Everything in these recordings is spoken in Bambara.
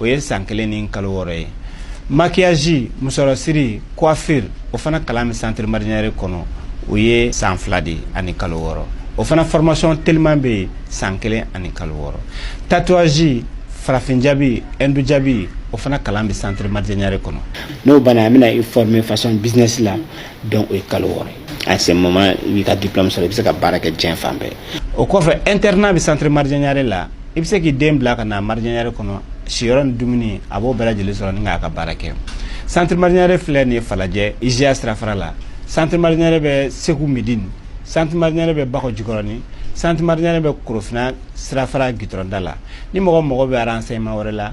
o ye san kelen ni kalo wɔɔrɔ ye maquillage musɔrɔsiri coiffure o fana kalan bɛ centre marjanyare kɔnɔ o ye san fila de ani kalo wɔɔrɔ o fana formation teliman bɛ yen san kelen ani kalo wɔɔrɔ tatouage farafin jaabi hindu jaabi o fana kalan bɛ centre marjanyare kɔnɔ n'o banna an bɛna i former façon business la donc o ye kalo wɔɔrɔ ye à ce moment i b'i ka diplôme sɔrɔ i bɛ se ka baara kɛ diɲɛ fan bɛɛ o kɔfɛ internat bɛ centre marjanyare la i bɛ se k'i den bila ka na marjanyare kɔnɔ siyɔrɔ ni dumuni a b'o bɛɛ lajɛlen sɔrɔ ni k'a ka baara kɛ centre marjanyare filɛ nin ye falajɛ IJA sirafara la centre marjanyare bɛ segu midini centre marjanyare bɛ bakɔ jikɔrɔni centre marjanyare bɛ korofina sirafara gitɔrɔnda la ni mɔgɔ mago bɛ renseignement wɛrɛ la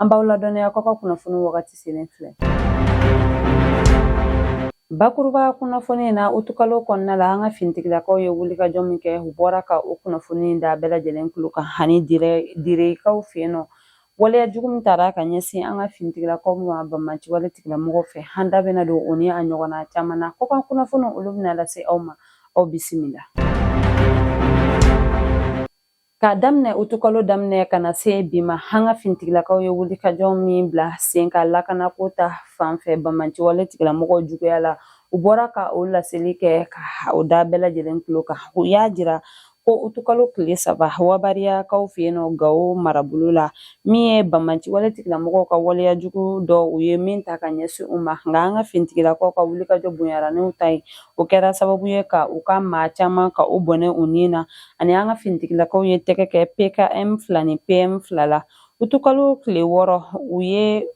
An b'aw ladɔnniya k'aw ka kunnafoni wagati selen filɛ. Bakuruba kunnafoni in na utukalo kɔnɔna la an ka finitigilakaw ye wulikajɔ min kɛ u bɔra ka o kunnafoni da bɛɛ lajɛlen tulo kan ani direkaw fɛ yen nɔ waleya jugu min taara ka ɲɛsin an ka finitigilakaw ma banbaanci wale tigilamɔgɔw fɛ an da bɛna don o ni a ɲɔgɔnna caman na kɔkan kunnafoni olu bɛna lase aw ma aw bisimila K'a daminɛ utukalo daminɛ ka na se bi ma an ka finitigilakaw ye wulikajɔ min bila sen kan lakana ko ta fanfɛ banbaanci wale tigilamɔgɔw juguya la u bɔra ka o laseli kɛ ka o da bɛɛ lajɛlen tulo kan u y'a jira ko utukalo tile saba wabariyakaw fɛ yen nɔ gawo marabolo la min ye banbaanci wale tigilamɔgɔw ka waleya jugu dɔ u ye min ta ka ɲɛsin u ma nka an ka finitigilakaw ka wulikajɔ bonyara n'u ta ye o kɛra sababu ye ka u ka maa caman ka u bɔnɛ u ni na ani an ka finitigilakaw ye tɛgɛ kɛ PKM fila ni PM fila la utukalo tile wɔɔrɔ u ye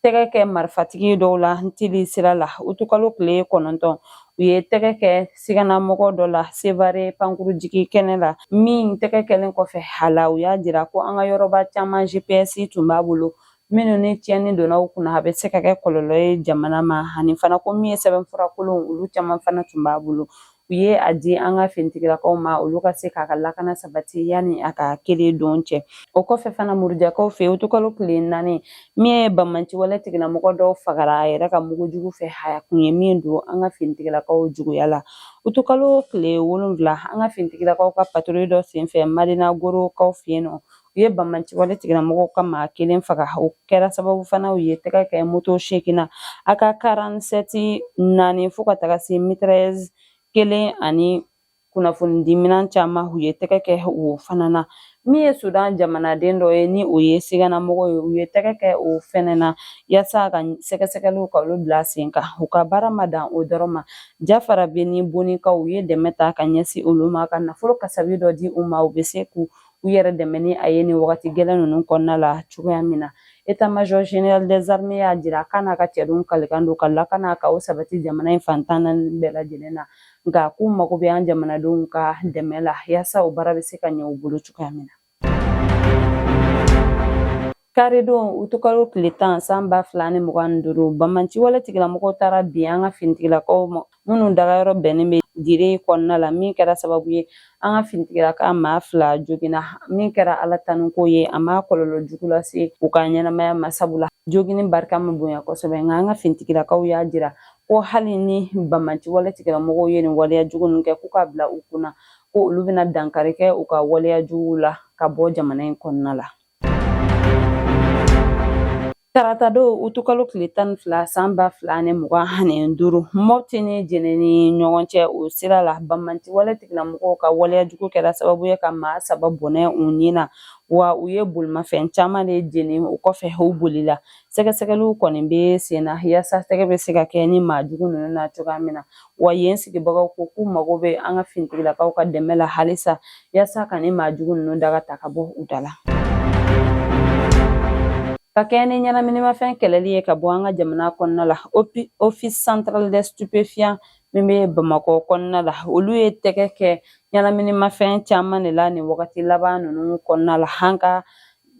tɛgɛ kɛ marifatigi dɔw la ntili sira la utukalo tile kɔnɔntɔn u ye tɛgɛ kɛ siganamɔgɔ dɔ la sevare pankurunjigikɛnɛ la min tɛgɛ kɛlen kɔfɛ a la u y'a jira ko an ka yɔrɔba caman GPS tun b'a bolo minnu ni tiɲɛni donna u kunna a bɛ se ka kɛ kɔlɔlɔ ye jamana ma ani fana ko min ye sɛbɛnfura kolon olu caman fana tun b'a bolo u ye a di an ka finitigilakaw ma olu ka se k'a ka lakana sabati yanni a ka kelen don cɛ o kɔfɛ fana murujakaw fɛ yen utukalo tile naani min ye banbaanci wale tigilamɔgɔ dɔw fagara a yɛrɛ ka mugu jugu fɛ a yɛrɛ kun ye min don an ka finitigilakaw juguya la utukalo tile wolonfila an ka finitigilakaw ka patrouille dɔ senfɛ madina gorokaw fɛ yen nɔ U ye banbaanci wale tigilamɔgɔw ka maa kelen faga o kɛra sababu fana u ye tɛgɛ kɛ moto seegin na AK karansɛti naani fo ka taga se mitrailleuse kelen ani kunnafonidiminɛn caman u ye tɛgɛ kɛ o fana na min ye sudan jamanaden dɔ ye ni o ye siganamɔgɔ ye u ye tɛgɛ kɛ o fɛnɛ na yaasa ka sɛgɛsɛgɛliw ka olu bila sen kan u ka baara ma dan o dɔrɔn ma jafarabɛ ni bonikaw u ye dɛmɛ ta ka ɲɛsin olu ma ka nafolo kasabi dɔ di u ma u bɛ se k'u u yɛrɛ dɛmɛ ni a ye nin wagati gɛlɛn ninnu kɔnɔna la cogoya min na état-major général des armées y'a jira k'a n'a ka cɛdenw kalikan don ka lakana ka o sabati jamana in fan tan naani bɛɛ lajɛlen na nka k'u mago bɛ an jamanadenw ka dɛmɛ la yaasa o baara bɛ se ka ɲɛ u bolo cogoya min na Karidon utukalo tile tan san ba fila ni mugan ni duuru banbaanci wale tigilamɔgɔw taara bin an ka finitigilakaw ma minnu dagayɔrɔ bɛnnen bɛ dire kɔnɔna la min kɛra sababu ye an ka finitigilaka maa fila jogina min kɛra ala tanuko ye a ma kɔlɔlɔ jugu lase u ka ɲɛnamaya ma sabula jogini barika ma bonya kosɛbɛ nka an ka finitigilakaw y'a jira ko hali ni banbaanci wale tigilamɔgɔw ye nin waleya jugu kɛ k'u k'a bila u kunna ko olu bɛna dankari kɛ u ka waleya jugu la ka bɔ jamana in kɔnɔna la Tarata don utukalo tile tan ni fila san ba fila ni mugan ani duuru mɔti ni jɛnɛ ni ɲɔgɔn cɛ o sira la banbaanci wale tigilamɔgɔw ka waleya jugu kɛra sababu ye ka maa saba bɔnɛ u ni na wa u ye bolimafɛn caman de jeni o kɔfɛ u bolila sɛgɛsɛgɛliw kɔni bɛ sen na yaasa tɛgɛ bɛ se ka kɛ nin maa jugu ninnu na cogoya min na wa yen sigibagaw ko k'u mago bɛ an ka finitigilakaw ka dɛmɛ la halisa yaasa ka nin maa jugu ninnu daga ta ka bɔ u da la ka kɛɲɛ ni ɲɛnaminimafɛn kɛlɛli ye ka bɔ an ka jamana kɔnɔna la office central des stupéfiants min bɛ bamakɔ kɔnɔna la olu ye tɛgɛ kɛ ɲɛnaminimafɛn caman de la nin wagati laban ninnu kɔnɔna la an ka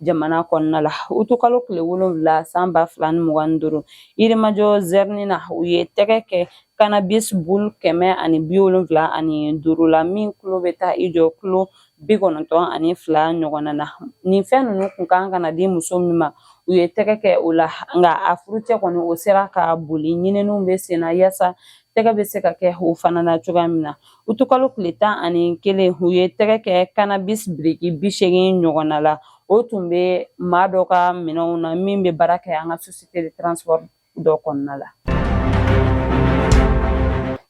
jamana kɔnɔna la utukalo tile wolonwula san ba fila ni mugan ni duuru yirimajɔ zɛrini na u ye tɛgɛ kɛ kanabis bulu kɛmɛ ani bi wolonwula ani duuru la min kilo bɛ taa i jɔ kilo bi kɔnɔntɔn ani fila ɲɔgɔnna na nin fɛn ninnu kun kan ka na di muso min ma u ye tɛgɛ kɛ o la nka a furucɛ kɔni o sera ka boli ɲininiw bɛ sen na yaasa tɛgɛ bɛ se ka kɛ o fana na cogoya min na utukalo tile tan ani kelen u ye tɛgɛ kɛ kanabis biriki bi seegin ɲɔgɔnna la o tun bɛ maa dɔ ka minɛnw na min bɛ baara kɛ an ka société de transport dɔ kɔnɔna la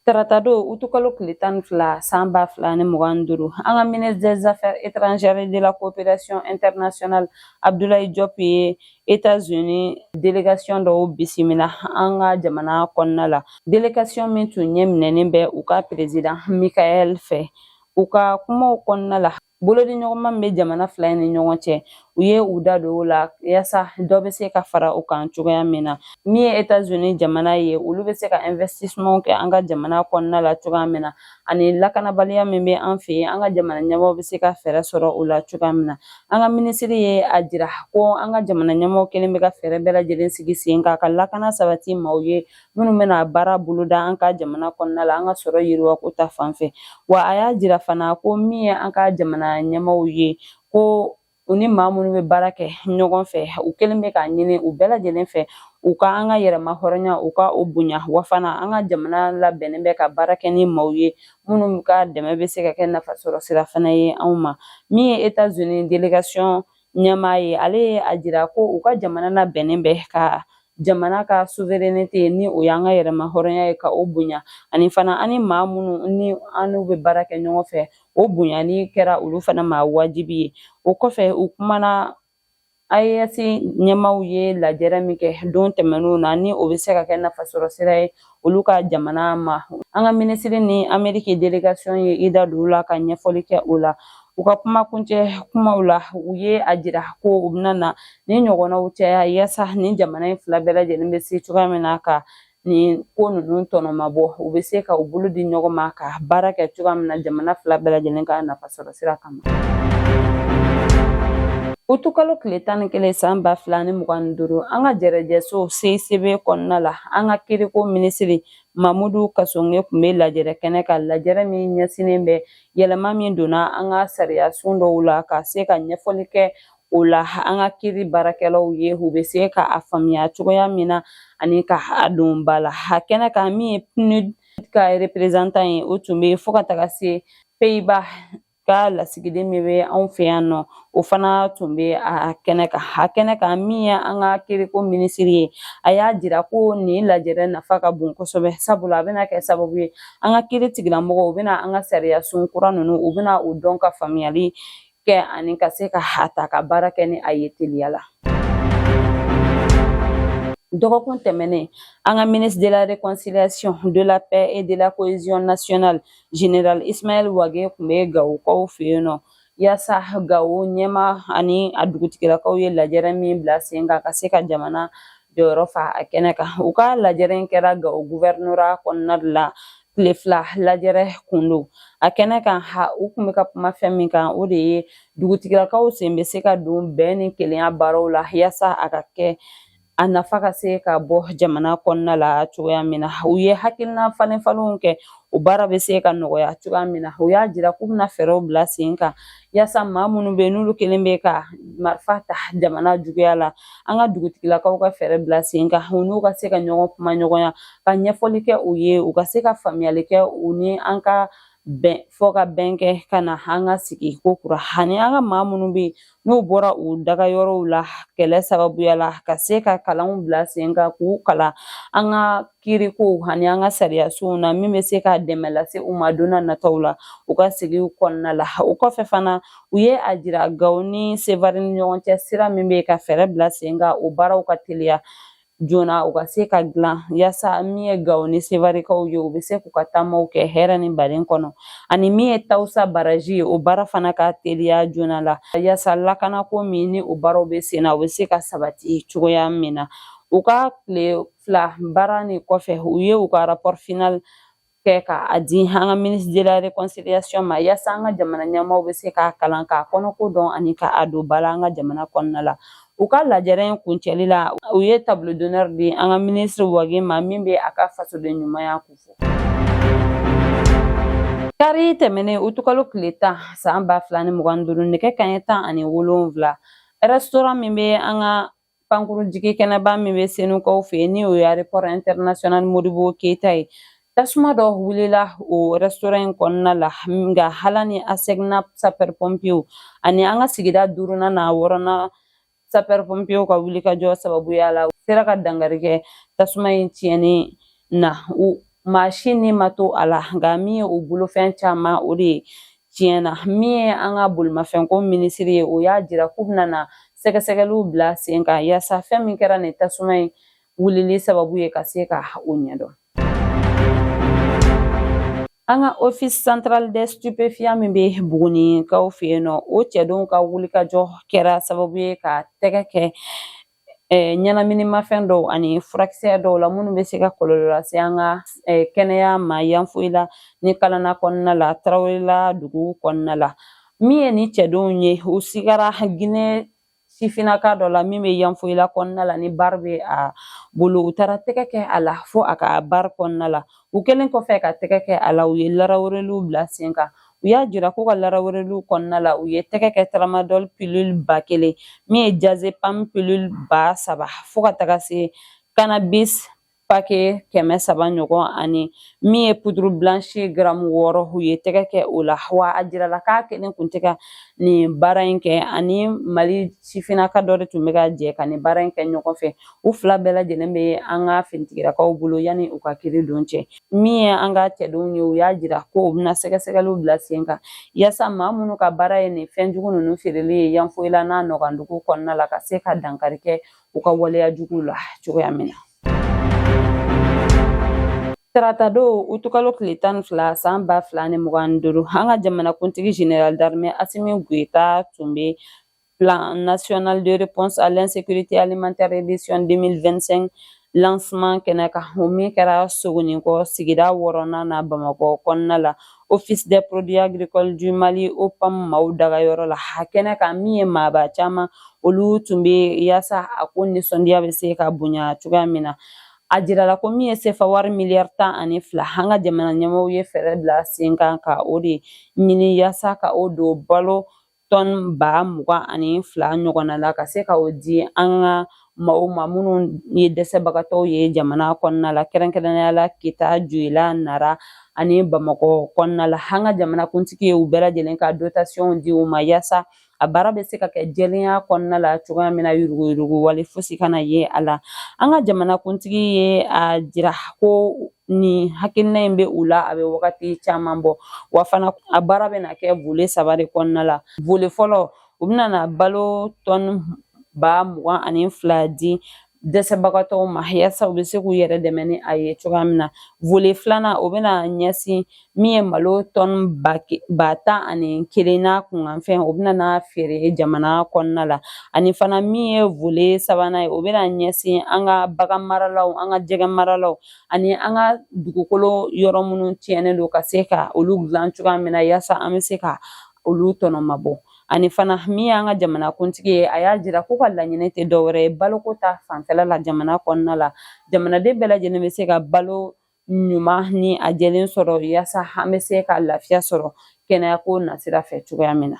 tarata don utukalo tile tan ni fila san ba fila ni mugan ni duuru an ka ministre des affaires étrangères de la coopération internationale abdoulaye diop ye États-Unis délégation dɔw bisimila an ka jamana kɔnɔna la délégation min tun ɲɛminɛnen bɛ u ka président Michael fɛ u ka kumaw kɔnɔna la bolodiɲɔgɔnma bɛ jamana fila in ni ɲɔgɔn cɛ u ye u da don o la yaasa dɔ bɛ se ka fara u kan cogoya min na min ye États-Unis jamana ye olu bɛ se ka investissement kɛ an ka jamana kɔnɔna la cogoya min na ani lakanabaliya min bɛ an fɛ yen an ka jamana ɲɛmaa bɛ se ka fɛɛrɛ sɔrɔ o la cogoya min na an ka minisiri ye a jira ko an ka jamana ɲɛmaa kɛlen bɛ ka fɛɛrɛ bɛɛ lajɛlen sigi sen kan ka lakana sabati maaw ye minnu bɛna baara boloda an ka jamana kɔnɔna la an ka sɔrɔ yiriwako ta fan fɛ wa a y'a jira fana ko min ye an ka jamana ɲɛmaaw ye ko u ni maa minnu bɛ baara kɛ ɲɔgɔn fɛ u kɛlen bɛ k'a ɲini u bɛɛ lajɛlen fɛ u ka an ka yɛrɛma hɔrɔnya u ka o bonya wa fana an ka jamana labɛnnen bɛ ka baara kɛ ni maaw ye minnu ka dɛmɛ bɛ se ka kɛ nafasɔrɔ sira fana ye anw ma min ye etazini délégation ɲɛmaa ye ale ye a jira ko u ka jamana labɛnnen bɛ ka jamana ka souveraineté ni o y'an ka yɛrɛma hɔrɔnya ye ka o bonya ani fana an ni maa minnu ni an n'u bɛ baara kɛ ɲɔgɔn fɛ o bonyani kɛra olu fana ma wajibi ye o kɔfɛ u kumana AES ɲɛmaaw ye lajɛrɛ min kɛ don tɛmɛnenw na ni o bɛ se ka kɛ nafasɔrɔ sira ye olu ka jamana ma an ka minisiri ni ameriki délégation ye i da don o la ka ɲɛfɔli kɛ o la u ka kuma kuncɛ kumaw la u ye a jira ko u bɛna na ni ɲɔgɔnnaw caya yaasa ni jamana in fila bɛɛ lajɛlen bɛ se cogoya min na ka nin ko ninnu tɔnɔmabɔ u bɛ se ka u bolo di ɲɔgɔn ma ka baara kɛ cogoya min na jamana fila bɛɛ lajɛlen ka nafasɔrɔ sira kama utukalo tile tan ni kelen san ba fila ni mugan ni duuru an ka jɛrɛjɛso CICB kɔnɔna la an ka kiriko minisiri mamudu kasonge tun bɛ lajɛrɛ kɛnɛ kan lajɛrɛ min ɲɛsinnen bɛ yɛlɛma min donna an ka sariyasun dɔw la ka se ka ɲɛfɔli kɛ o la an ka kiri baarakɛlaw ye u bɛ se ka a faamuya cogoya min na ani ka a don ba la a kɛnɛ kan min ye PNUD ka reperezantan ye o tun bɛ fo ka taga se peyiba ka lasigiden min bɛ anw fɛ yan nɔ o fana tun bɛ a kɛnɛ kan a kɛnɛ kan min ye an ka kiriko minisiri ye a y'a jira ko nin lajɛrɛ nafa ka bon kosɛbɛ sabula a bɛna kɛ sababu ye an ka kiri tigilamɔgɔw u bɛna an ka sariyasun kura ninnu u bɛna o dɔn ka faamuyali kɛ ani ka se ka a ta ka baara kɛ ni a ye teliya la dɔgɔkun tɛmɛnen an ka ministre de la réconciliation de la paix et de la cohésion nationale général ismaël wage tun bɛ gawokaw fɛ yen nɔ yaasa gawo ɲɛmaa ani a dugutigilakaw ye lajɛrɛ min bila sen kan ka se ka jamana jɔyɔrɔ fa a kɛnɛ kan u ka lajɛrɛ in kɛra gawo guvɛrinora kɔnɔna de la tile fila lajɛrɛ kun don a kɛnɛ kan u kun bɛ ka kuma fɛn min kan o de ye dugutigilakaw sen bɛ se ka don bɛn ni kelenya baaraw la yaasa a ka kɛ a nafa ka se ka bɔ jamana kɔnɔna la cogoya min na u ye hakilina falenfalenw kɛ o baara bɛ se ka nɔgɔya cogoya min na u y'a jira k'u bɛna fɛɛrɛw bila sen kan Yaasa maa minnu bɛ yen n'olu kɛlen bɛ ka marifa ta jamana juguya la an ka dugutigilakaw ka fɛɛrɛ bila sen kan u n'u ka se ka ɲɔgɔn kumaɲɔgɔnya ka ɲɛfɔli kɛ u ye u ka se ka faamuyali kɛ u ni an ka bɛn fɔ ka bɛn kɛ ka na an ka sigi ko kura ani an ka maa minnu bɛ yen n'u bɔra u dagayɔrɔw la kɛlɛ sababuya la ka se ka kalanw bila sen kan k'u kalan an ka kiirikow ani an ka sariyasow na min bɛ se ka dɛmɛ lase u ma don na nataw la u ka sigiw kɔnɔna la o kɔfɛ fana u ye a jira gawo ni sevari ni ɲɔgɔn cɛ sira min bɛ ka fɛɛrɛ bila sen kan o baaraw ka teliya joona u ka se ka dilan yaasa min ye gawo ni sevarikaw ye u bɛ se k'u ka taamaw kɛ hɛrɛ ni baden kɔnɔ ani min ye tawusa baraji ye o baara fana ka teliya joona la yaasa lakanako min ni o baaraw bɛ sen na u bɛ se ka sabati cogoya min na u ka tile fila baara ni kɔfɛ u ye u ka rapport final kɛ ka a di an ka ministre de la réconciliation ma yaasa an ka jamana ɲɛmaaw bɛ se k'a kalan k'a kɔnɔko dɔn ani ka a don ba la an ka jamana kɔnɔna la u ka lajɛrɛ in kuncɛli la u ye tableau d'honneur di an ka ministre wage ma min bɛ a ka fasoden ɲumanya kofɔ kari tɛmɛnen utukalo tile tan saan ba fila ni mugan ni duuru nɛgɛ kanɲɛ tan ani wolonwula restaurant min bɛ an ka pankuru jigi kɛnɛba min bɛ senukaw fɛ yen ni o ye aéroport international modibo keyita ye tasuma dɔ wulila o restaurant in kɔnɔna la nka hala ni asecna sapeur pompiers ani an ka sigida duurunan n'a wɔɔrɔnan sapeur pompiers ka wulikajɔ sababuya la u sera ka dankari kɛ tasuma in tiɲɛni na maa si ni ma to a la nka min ye o bolofɛn caman o de ye tiɲɛna min ye an ka bolimafɛnko minisiri ye o y'a jira k'u bɛna na sɛgɛsɛgɛliw bila sen kan yaasa fɛn min kɛra nin tasuma in wulili sababu ye ka se ka o ɲɛdɔn an ka office central des stupéfiants min bɛ buguninkaw fɛ yen nɔ o cɛdenw ka wulikajɔ kɛra sababu ye ka tɛgɛ kɛ ɲɛnaminimafɛn dɔw ani furakisɛ dɔw la minnu bɛ se ka kɔlɔlɔ lase an ka kɛnɛya ma yanfoyila ni kalana kɔnɔna la tarawelela dugu kɔnɔna la min ye ni cɛdenw ye u sigara ginɛ sifinnaka dɔ la min bɛ yanfoyila kɔnɔna la ni bari bɛ a bolo u taara tɛgɛ kɛ a la fo a ka bari kɔnɔna la u kɛlen kɔfɛ ka tɛgɛ kɛ a la u ye larawereliw bila sen kan u y'a jira k'u ka larawereliw kɔnɔna la u ye tɛgɛ kɛ tramadol pilule ba kelen min ye diazepam pilule ba saba fo ka taga se cannabis pake kɛmɛ saba ɲɔgɔn ani min ye poudre blanche garamu wɔɔrɔ u ye tɛgɛ kɛ o la wa a jirala k'a kelen kun tɛ ka nin baara in kɛ ani mali sifinnaka dɔ de tun bɛ ka jɛ ka nin baara in kɛ ɲɔgɔn fɛ u fila bɛɛ lajɛlen bɛ an ka finitigilakaw bolo yanni u ka kiiri don cɛ min ye an ka cɛdenw ye u y'a jira ko u bɛna sɛgɛsɛgɛliw bila sen kan yaasa maa minnu ka baara ye nin fɛn jugu ninnu feereli ye yanfoyila n'a nɔgɔndugu kɔnɔna la ka se ka dankari kɛ u ka waleya juguw la cogoya min na Tarata don utukalo tile tan ni fila san ba fila ni mugan ni duuru an ka jamanakuntigi général d'armée asimi goyita tun bɛ Plan national de réponse à l'insécurité alimentaire édition 2025 lancement kɛnɛ kan o min kɛra sogonikɔ sigida wɔɔrɔnan na bamakɔ kɔnɔna la office des produits agricoles du mali opam maaw dagayɔrɔ la a kɛnɛ kan min ye maaba caman olu tun bɛ yaasa a ko nisɔndiya bɛ se ka bonya cogoya min na a jirala ko min ye sefa wari miliyari tan ani fila an ka jamana ɲɛmaaw ye fɛɛrɛ bila sen kan ka o de ɲini yaasa ka o don balo tɔni ba mugan ani fila ɲɔgɔnna la ka se ka o di an ka maaw ma minnu ye dɛsɛbagatɔw ye jamana kɔnɔna la kɛrɛnkɛrɛnnenya la kita joyila nara ani bamakɔ kɔnɔna la an ka jamanakuntigi ye u bɛɛ lajɛlen ka dotasiyɔnw di u ma yaasa a baara bɛ se ka kɛ jɛlenya kɔnɔna la cogoya min na yuruguyurugu wale fosi kana ye a la an ka jamanakuntigi ye a jira ko nin hakilina in bɛ u la a bɛ wagati caman bɔ wa fana a baara bɛna kɛ volet saba de kɔnɔna la volet fɔlɔ u bɛna na balo tɔni ba mugan ani fila di dɛsɛbagatɔw ma yaasa u bɛ se k'u yɛrɛ dɛmɛ ni a ye cogoya min na volet filanan o bɛna ɲɛsin min ye malo tɔni ba tan ani kelen n'a kunkanfɛn o bɛna na feere jamana kɔnɔna la ani fana min ye volet sabanan ye o bɛna ɲɛsin an ka bagan maralaw an ka jɛgɛ maralaw ani an ka dugukolo yɔrɔ minnu tiɲɛnen don ka se ka olu dilan cogoya min na yaasa an bɛ se ka olu tɔnɔmabɔ ani fana min y'an ka jamanakuntigi ye a y'a jira k'u ka laɲini tɛ dɔwɛrɛ ye baloko ta fanfɛla la jamana kɔnɔna la jamanaden bɛɛ lajɛlen bɛ se ka balo ɲuman ni a jɛlen sɔrɔ yaasa an bɛ se ka lafiya sɔrɔ kɛnɛyako nasira fɛ cogoya min na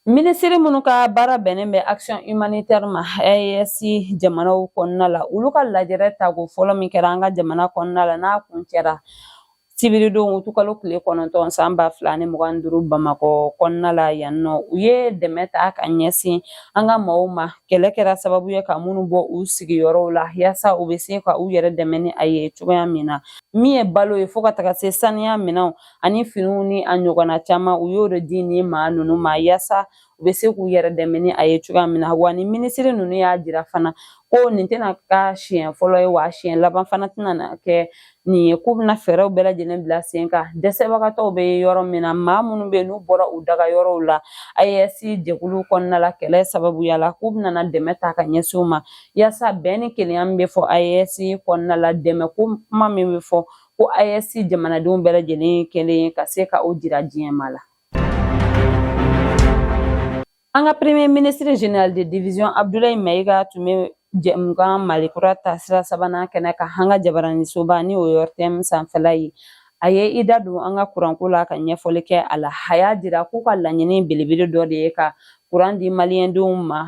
minisiri minnu ka baara bɛnnen bɛ action humanitaire ma AES jamanaw kɔnɔna la olu ka lajɛrɛ tako fɔlɔ min kɛra an ka jamana kɔnɔna la n'a kuncɛra sibiridon utukalo tile kɔnɔntɔn san ba fila ni mugan ni duuru bamakɔ kɔnɔna la yan nɔ u ye dɛmɛ ta ka ɲɛsin an ka maaw ma kɛlɛ kɛra sababu ye ka minnu bɔ u sigiyɔrɔw la yaasa u bɛ se ka u yɛrɛ dɛmɛ ni a ye cogoya min na min ye balo ye fo ka taga se saniya minɛnw ani finiw ni a ɲɔgɔnna caman u y'o de di nin maa ninnu ma yaasa u bɛ se k'u yɛrɛ dɛmɛ ni a ye cogoya min na wa ni minisiri ninnu y'a jira fana ko nin tɛna ka siɲɛ fɔlɔ ye wa siɲɛ laban fana tɛna na kɛ nin ye k'u bɛna fɛɛrɛw bɛɛ lajɛlen bila sen kan dɛsɛbagatɔw bɛ yɔrɔ min na maa minnu bɛ yen n'u bɔra u daga yɔrɔw la AES jɛkulu kɔnɔna la kɛlɛ sababuya la k'u bɛna dɛmɛ ta ka ɲɛsin u ma yaasa bɛn ni kelenya min bɛ fɔ AES kɔnɔna la dɛmɛ ko kuma min bɛ fɔ ko AES jamanadenw bɛɛ lajɛlen kelen ka se ka o jira diɲɛ maa la An ka premier ministre général de division Abdoulaye Mayiga tun bɛ jɛmukan Mali kura taasira sabanan kɛnɛ kan an ka jabaranisoba ni o ye ORTM sanfɛla ye a ye i da don an ka kuranko la ka ɲɛfɔli kɛ a la a y'a jira k'u ka laɲini belebele dɔ de ye ka kuran di maliyɛndenw ma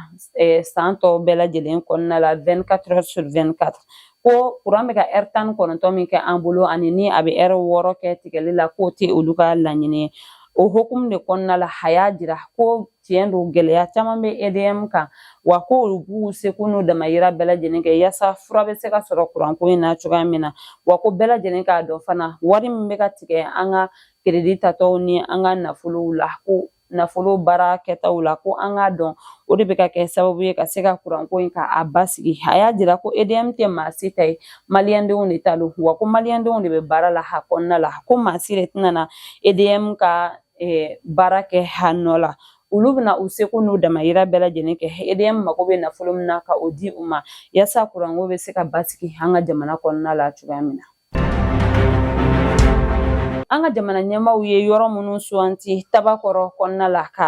san tɔ bɛɛ lajɛlen kɔnɔna la vingt-quatre heures sur vingt-quatre ko kuran bɛ ka ɛri tan ni kɔnɔntɔn min kɛ an bolo ani ni a bɛ ɛri wɔɔrɔ kɛ tigɛli la k'o tɛ olu ka laɲini ye o hukumu de kɔnɔna la a y'a jira ko tiɲɛ don gɛlɛya caman bɛ EDM kan wa ko olu b'u seko n'u damayira bɛɛ lajɛlen kɛ yaasa fura bɛ se ka sɔrɔ kuranko in na cogoya min na wa ko bɛɛ lajɛlen k'a dɔn fana wari min bɛ ka tigɛ an ka keredi tatɔw ni an ka nafolow la ko nafolo baara kɛtaw la ko an k'a dɔn o de bɛ ka kɛ sababu ye ka se ka kuranko in ka a basigi a y'a jira ko EDM tɛ maa si ta ye maliyɛndenw de ta don wa ko maliyɛndenw de bɛ baara la a kɔnɔna la ko maa si de tɛna na EDM ka eh, baara kɛ a nɔ la olu bɛna u seko n'u damayira bɛɛ lajɛlen kɛ EDM mago bɛ nafolo min na ka o di u ma yaasa kuranko bɛ se ka basigi an ka jamana kɔnɔna la cogoya min na an ka jamana ɲɛmaaw ye yɔrɔ minnu sugandi tabakɔrɔ kɔnɔna la ka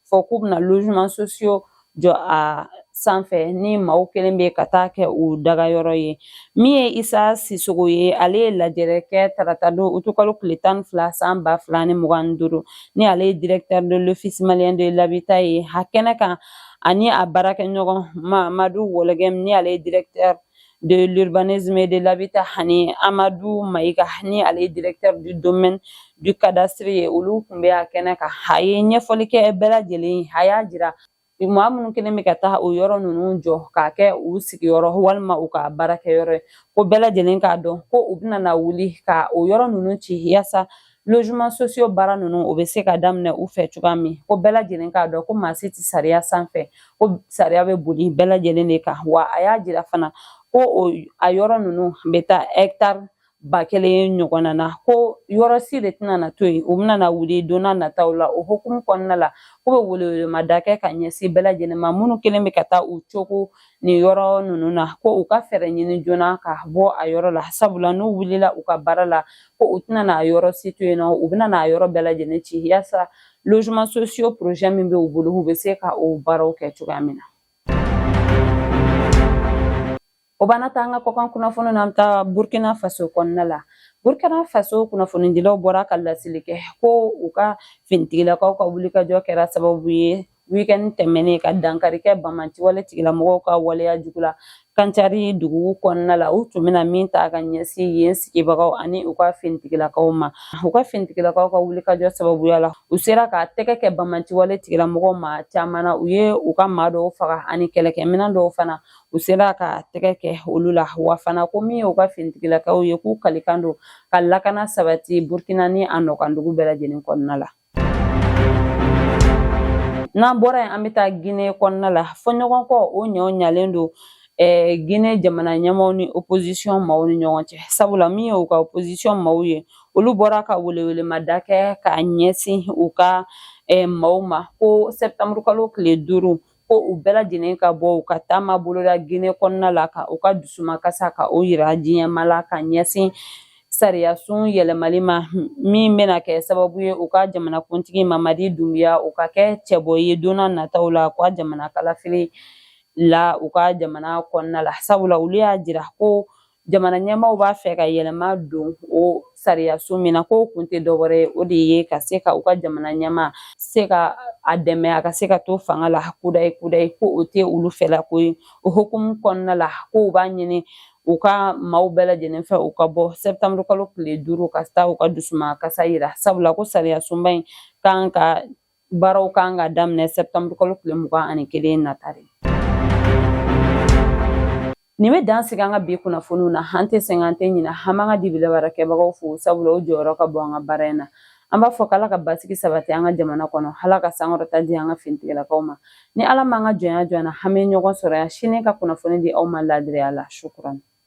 fɔ k'u bɛna logement sociaux jɔ a sanfɛ ni maaw kɛlen bɛ ka taa kɛ u daga yɔrɔ ye min ye isa sisogo ye ale ye lajɛrɛ kɛ tarata don utukalo tile tan ni fila san ba fila ni mugan ni duuru ni ale ye directeur de l'office malien de l'habitat ye a kɛnɛ kan ani a baarakɛɲɔgɔn mamadu wɔlɛgɛm ni ale ye directeur de l'urbanisme et de l'habitat ani Amadou Maïga ni ale ye directeur du domaine du cadastre ye olu kun bɛ a kɛnɛ kan a ye ɲɛfɔli kɛ bɛɛ lajɛlen ye a y'a jira maa minnu kɛlen bɛ ka taa o yɔrɔ ninnu jɔ k'a kɛ u sigiyɔrɔ walima u ka baarakɛyɔrɔ ye ko bɛɛ lajɛlen k'a dɔn ko u bɛna na wuli ka o yɔrɔ ninnu ci yaasa logement sociaux baara ninnu o bɛ se ka daminɛ u fɛ cogoya min ko bɛɛ lajɛlen k'a dɔn ko maa si tɛ sariya sanfɛ ko sariya bɛ boli bɛɛ lajɛlen de kan wa a y'a jira fana ko a yɔrɔ ninnu bɛ taa hɛkitari ba kelen ɲɔgɔnna na ko yɔrɔ si de tɛna na to yen u bɛna na wuli don n'a nataw la o hukumu kɔnɔna la k'u bɛ welewelemada kɛ ka ɲɛsin bɛɛ lajɛlen ma minnu kɛlen bɛ ka taa u cogo nin yɔrɔ ninnu na ko u ka fɛɛrɛ ɲini joona ka bɔ a yɔrɔ la sabula n'u wulila u ka baara la ko u tɛna n'a yɔrɔ si to yen nɔ u bɛna n'a yɔrɔ bɛɛ lajɛlen ci yaasa logement sociaux projet min bɛ u bolo u bɛ se ka o baaraw kɛ cogoya min na o b'an nataa an ka kɔkan kunnafoni na an bɛ taa burkina faso kɔnɔna la burkina faso kunnafonidilaw bɔra ka laseli kɛ ko u ka finitigilakaw ka wulikajɔ kɛra sababu ye weekend tɛmɛnen ka dankari kɛ banbaanci wale tigilamɔgɔw ka waleya jugu la kancari dugu kɔnɔna la u tun bɛna min ta ka ɲɛsin yen sigibagaw ani u ka finitigilakaw ma u ka finitigilakaw ka wulikajɔ sababuya la u sera ka tɛgɛ kɛ banbaanci wale tigilamɔgɔw ma caman na u ye u ka maa dɔw faga ani kɛlɛkɛminɛn dɔw fana u sera ka tɛgɛ kɛ olu la wa fana ko min ye u ka finitigilakaw ye k'u kalikan don ka lakana sabati burkina ni a nɔkandugu bɛɛ lajɛlen kɔnɔna la n'an bɔra yen an bɛ taa gine kɔnɔna la fɔɲɔgɔnkɔ o ɲɔ ɲalen don eh, gine jamana ɲɛmaaw ni opozisiyɔn maaw ni ɲɔgɔn cɛ sabula min ye u ka opozisiyɔn maaw ye olu bɔra ka welewelemada kɛ ka ɲɛsin u ka eh, maaw ma ko sɛptanburukalo tile duuru ko u bɛɛ lajɛlen ka bɔ u ka taama boloda gine kɔnɔna la ka u ka dusumakasa ka o yira diɲɛmaa la ka ɲɛsin sariyasun yɛlɛmali ma min bɛna kɛ sababu ye u ka jamanakuntigi mamadi dunbiya o ka kɛ cɛbɔ ye don na nataw la u ka jamana kalafili la u ka jamana kɔnɔna la sabula olu y'a jira ko jamana ɲɛmaaw b'a fɛ ka yɛlɛma don o sariyasun min na k'o kun tɛ dɔwɛrɛ ye o de ye ka se ka u ka jamana ɲɛmaa se ka a dɛmɛ a ka se ka to fanga la kudayi kudayi ko o tɛ olu fɛla ko ye o hukumu kɔnɔna la ko u b'a ɲini u ka maaw bɛɛ lajɛlen fɛ u ka bɔ sɛptanburukalo tile duuru ka taa u ka dusumakasa yira sabula ko sariyasunba in kan ka Baaraw kan ka daminɛ sɛptanburukalo tile mugan ani kelen nata de nin bɛ dan sigi an ka bi kunnafoniw na an tɛ sɛgɛn an tɛ ɲinɛ an b'an ka dibila baarakɛbagaw fo sabula o jɔyɔrɔ ka bon an ka baara in na an b'a fɔ k'ala ka basigi sabati an ka jamana kɔnɔ ala ka sankɔrɔta di an ka finitigilakaw ma ni ala m'an ka jɔnya jɔ an na an bɛ ɲɔgɔn sɔrɔ yan sini ka kunnafoni di aw ma laadiriya la shukran